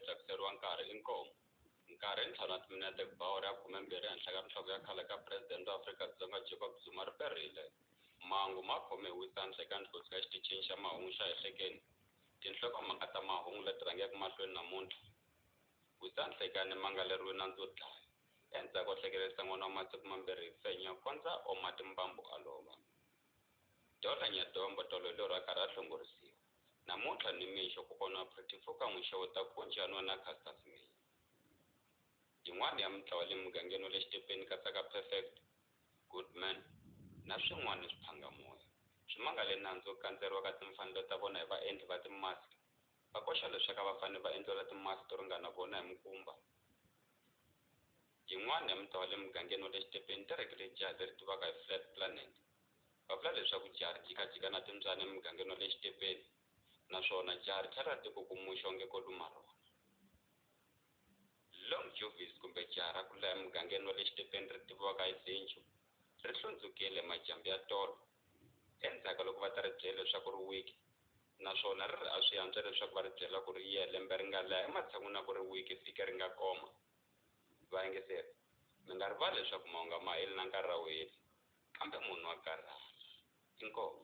tsakiseriwa nkarhi i nkomu nkarhi i ntlhanu wa timinete ku ba awara ya khumembirhi ehenhla ka nhloko ya khale ka presidente wa afrika-dzonga jacob zuma ri perile mangu ma khome hi wisandla eka ndlhutsi ka xitichini xa mahungu xa ehlekeni tinhlokomhaka ta mahungu leti rhangeke mahlweni namuntlha wisandla eka ni mangaleriwe nandzu wo dlaya endzhaku o hlekelerisa n'wana wa masiku mambirhi hi fenya kondza oma timbambu a lova dola nyadombo tolo hi lorha karhi a hlongorisiwa Namuntlha nimixo kokwana wa Pretty Foka n'wi xeweta ku onja nwa na Caster Semenya. Yin'wana ya mintlawa le mugangeni wa le Xitepeni katsaka Perfect, Goodman na swin'wana ni swiphangamoya swi mangale nandzu wo kandzeriwa ka timfanelo ta vona hi vaendli va timask va koxa leswaku a va fanele va endliwela timask to ringana vona hi mukumba. Yin'wana ya mintlawa le mugangeni wa le Xitepeni yi terekile jaha leri tiviwaka hi Flat Planet va vula leswaku jaha ri jikajika na timbyana emugangeni wa le xitepeni naswona jaha ri tlhela ri tikukumuxa onge ko luma rona long juvis kumbe jaha ra kula emugangeni wa le xitepeni ri tiviwaka hi zinju ri hlundzukile majambu ya tolo endzhaku loko va ta ri byela leswaku ri wiki naswona ri ri a swi antswa leswaku va ri byela ku ri ye lembe ri nga leha ematshan'wini na ku ri wiki vhiki ri nga koma vayingiseri mi nga rivali leswaku mahunga ma heli na nkarhi a wu heli kambe munhu wa karhala inkomo